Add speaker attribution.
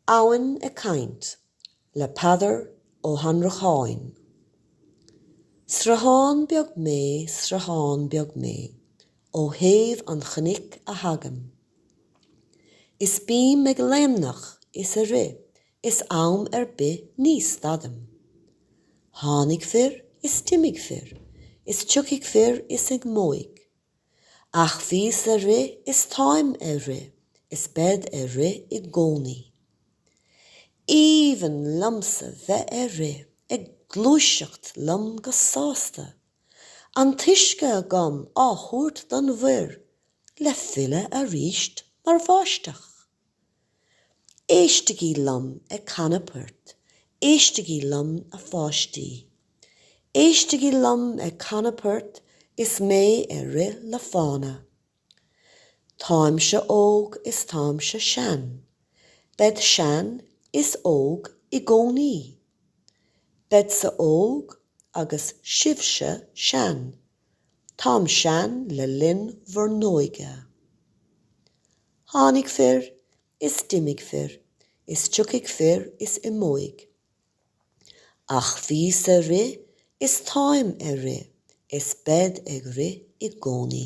Speaker 1: Abhainn ag caint le Peadar Ó hAnnracháin. Sruthán beag mé, sruthán beag mé, ó thaobh an chnoic a thagaim, Is bím ag léimneach is ag rith is am ar bith ní stadaim, Tháinig fir is d'imigh fir is tiocfaidh fir is imeoidh, Ach bhíos ag rith is táim ag rith is bead ag rith i gcónaí. Aoibhinn liomsa bheith ag rith ag gluaiseacht liom go sásta, an t-uisce agam á thabhairt don mhuir le filleadh arís mar bháisteach. Éistigí liom ag canadh poirt, éistigí liom a pháistí. Éistigí liom ag canadh poirt is mé ag rith le fána. Táimse óg is táimse sean, bead sean is óg i gcónaí. Beadsa óg agus sibhse sean. Táim sean le linn bhur n-óige. Tháinig fir is d'imigh fir is tiocfaidh fir is imeoidh. Ach bhíos ag rith is táim ag rith is bead ag rith i gcónaí.